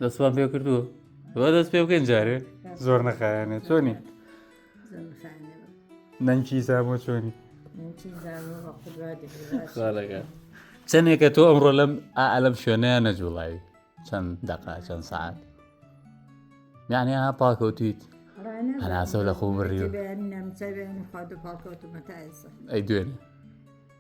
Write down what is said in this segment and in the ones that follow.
دەستمان پێ کردووە بە دەست پێ بکەین جارێ زۆر نەخایانێ چۆنی نەنکی زامۆ چۆنی چەندێکە تۆ ئەمڕۆ لەم ئالم شوێنەیە نەجوڵایی چەند دەقا چەند سعات یعنی ها پاکەوتیت هەناسە لە خۆ بڕی ئەی دوێنێ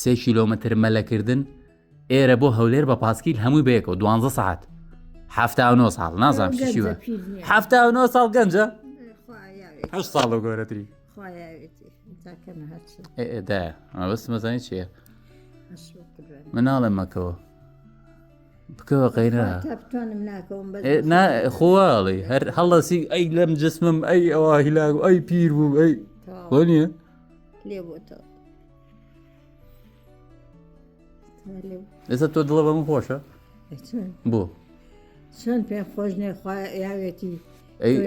سێ کیلۆمەتر مەلەکردن ئێرە بۆ هەولێر بە پاسکیل هەمووی بەیەکەوە دوانزە سعات هەفتا نۆ ساڵ نازانام شیوە هەفتا نۆ ساڵ گەنجە هە ساڵ و گەورەتری دا ئەوەست مەزانی چیە مناڵم مەکەوە بکەوە قەیرە خۆڵی هەر هەڵەسی ئەی لەم جسمم ئەی ئەوە هیلاگ ئەی پیر بوو ئەی بۆ نیە لێ بۆتەوە ئێستا تۆ دڵە بەم خۆشە بۆ چۆن پێ خۆش نێخوا یاوێتی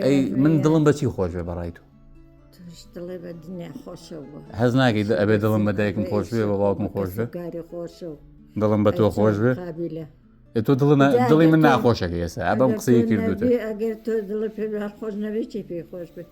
ئەی من دڵم بەچی خۆش بێ بەڕای تو هەز ناگەی ئەبێ دڵم بە دایکم خۆش بێ بە باوکم خۆش بێ دڵم بە تۆ خۆش بێ تۆ دڵ دڵی من ناخۆشەکە ئێستا ئەبم قسەی کردوتە ئەگەر تۆ دڵ پێ خۆش نەبێت چی پێ خۆش بێت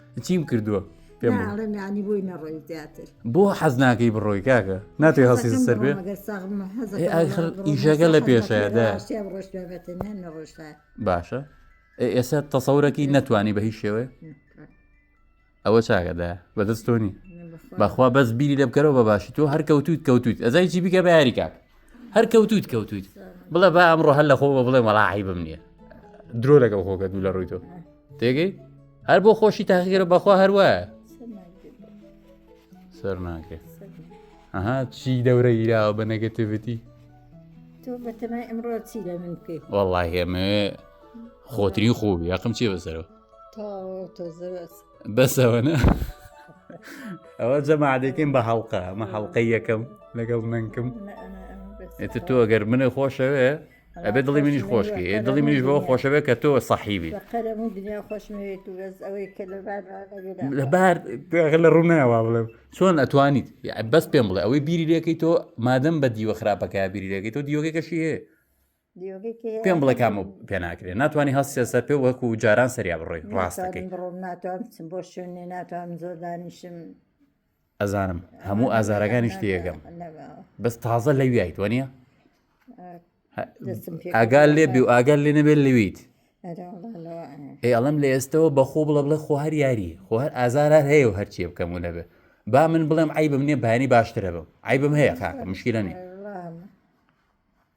چیم کردووە پێم بڵێ. ناڵێم یانی بۆی نەڕۆی زیاتر بۆ حەز ناکەی بڕۆی کاکە ناتێ هەڵسی حەزەکەم سەر بێ بڕۆم، ئەگەر ساغم بم، حەزەکەم ئێ، ئای خەر بڕۆم، ئیشەکە لە حەزەکەم پێشەیە، بڕۆم، دا. ڕاشتە بڕۆش بێ بەتە، نە نەڕۆشتە. باشە ئێ، ئێستا تەسەورەکی نەتوانی بە هیچ شێوەیە ئەوە چاگەدا بەدەست تۆنی بەخوا بەس بیری لە بکەرەوە بە باشی تۆ هەر کەوتویت کەوتویت ئەزای چی بکە بە یاری کاک هەر کەوتویت کەوتویت بڵێ با ئەمڕۆ هەر لە خۆ بە بڵێ مەڵا عیبم نییە درۆ لەگەڵ خۆگە دوو لە ڕووی تۆ تێگەی هەر بۆ خۆشی تاخیگەرە بەخوا هەروە سەر ناکرێت ئەها چی دەورە گیراوە بە نەگەتیڤەتی تۆ بەتەمای ئەمڕۆ چی لە من بکەیت وەڵی هێمە خۆتری خۆبی یاقم چی بەسەرەوە تۆ تۆ بەسەوەە ئەوە جەمادێکیم بە هەڵقە ئەمە هەڵلقەی یەکەم لەگەڵ نەنکم ئێتە تۆ گەر منە خۆشەوێ ئەبێ دڵی منیش خۆشکی دڵی منیش بۆ خۆشەوێ کە تۆ سەحیبی لەبار لە ڕووناوا بڵێم چۆن ئەتوانیت بەس پێم بڵێ ئەوەی بیری لەکەی تۆ مادەم بە دیوە خراپەکە بیری لەکەی تۆ دیوەکەی کەشی هەیە پێم بڵێ کام پێ ناکرێت ناتوانانی هەست سێسەر پێ وەکو جاران سەریا بڕۆی ڕاستەکەی ناتوان بچم بۆ شوێنێ ناتوان زۆر دانیشم ئەزانم هەموو ئازارەکانی شتێگەم بەس تازە لە ویایت وە نیە ئاگال لێ بی و ئاگەر لێ نەبێت لەویت ئێ ئەڵم لە ئێستەوە بەخۆ بڵە بڵێ خۆ هەر یاری خۆ هەر ئازارە هەیە و هەرچیە بکەم و نەبێ با من بڵێم ئای بم نیە بانی باشترە بم ئای بم هەیە خاکە مشکلە نیە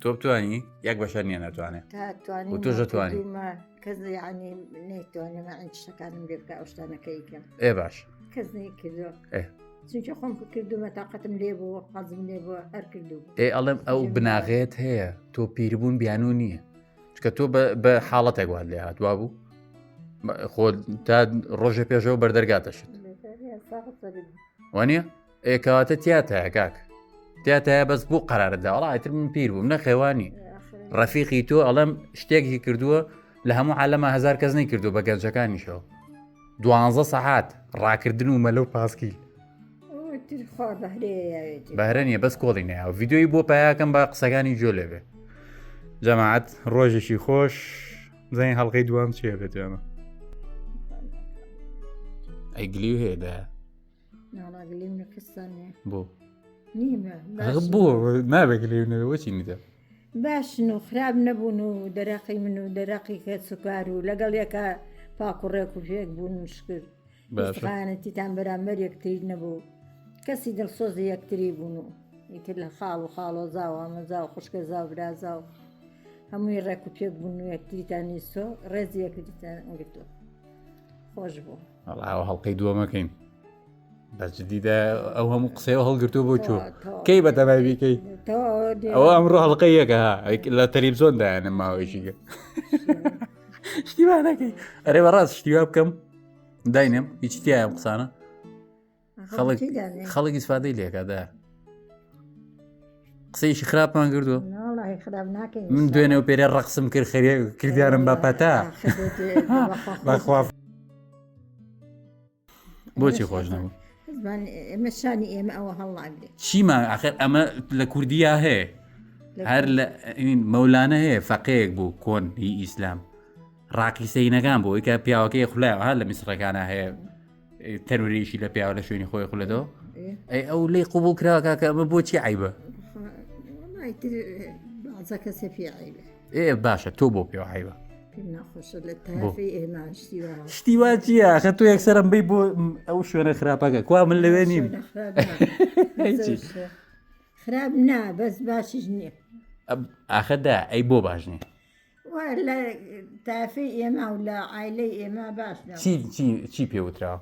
تۆ بتانی یەک بەشەر نیە ناتوانێت تۆژەتوانی کەس ینی نەیتوانێت ئەنج شەکانم لێ بکە ئەو شتانەکەی کەم ئێ باش کەس نەی کردو چونکە خۆم کردومە تااقەتم لێ بوو حەزم لێ بووە هەر کردو ئێ ئەڵێم ئەو بناغێت هەیە تۆ پیربوون بیانوو نییە چکە تۆ بە حاڵەتێک وات لێ هاتوا بوو خۆ تا ڕۆژێ پێشەوە بەردەرگاتەشت وانە؟ ئێ کەواتە تیاتایە کاک تیاتایە بەس بۆ قەراردا وڵا ئیتر من پیر بووم نەخێوانی ڕەفیقی تۆ ئەڵەم شتێکی کردووە لە هەموو عالەمە هزار کەس نەی کردو بە گەنجەکانیشەوە دوانزە سەحات ڕاکردن و مەلە و پاسکیل بەهرە نیە بەس کۆڵی نیا ڤیددیوی بۆ پیاکەم بە قسەکانی جۆ لێبێ جەماعات ڕۆژێکی خۆش زانین هەڵلقەی دوام چێ بێت ئەمە ئەیگلی هێدا بۆ بۆ نابێت لێ نەوەچی نیدا باشن و خراپ نەبوون و دەرەقی من و دەرەقی کە سوکار و لەگەڵ یەکە پاکوڕێک و پێک بوون و شکرد باشخانەتیتان بەرامبەر یەکتری نەبوو کەسی دڵسۆزی یەکتری بوون و ئیتر لە خاڵ و خاڵۆزا و ئامەزا و خوشکە زاو برازا و هەمووی ڕێک و پێک بوون و یەکتریتان نیسۆ ڕێزی یەکتریتان گرتو خۆش بوو. ئەڵاوە هەڵلقەی دووەمەکەین بەس جدیدا ئەو هەموو قسەوە هەڵگرتو بۆ چۆ کەی بە تەبای بیکەی ئەوە ئەمڕۆ هەڵلقە یەکە لە تەریب زۆن دایانە ماوەیشی گە شتیوانەکەی ئەرێ بەڕاست شتیوا بکەم داینێم هیچ تیایم قسانە خەڵک ئیسفادەی لێکادا قسەیشی خراپان کردو من دوێنێ و پێرێ ڕقسم کرد خەرێ کردیارم بە پەتا بەخوا بۆچی خۆش نەبوو ئێمە شانی ئێمە ئەوە هەڵاگرێ چیمان ئاخر ئەمە لە کوردیا هەیە هەر لە مەولانە هەیە فەقەیەک بوو کۆن هی ئیسلام ڕاقیسەینەکان بۆ ئیکە پیاوەکەی خولای ها لە میسرەکانە هەیە تەرورێکی لە پیاوە لە شوێنی خۆی خولەدەوە ئەی ئەو لی قوبوو کراکە کە ئەمە بۆچی عیبە ئێ باشە تۆ بۆ پێوە عیبە شتی وا چیە خە تۆ یەکسەرم بی بۆ ئەو شوێنە خراپەکە کوا من لەوێ نیم خراپ نا بەس باشش نییە ئاخەدا ئەی بۆ باش نیە وا لە تایفەی ئێمە و لە عیلەی ئێمە باش چی پێوترا؟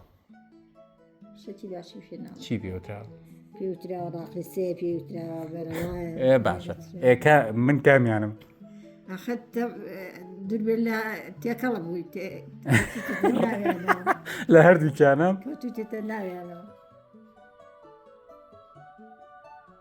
چی پێوترا؟ باشە ئێکە من کامیانم تێکەڵ بووی لە هەردووچانم.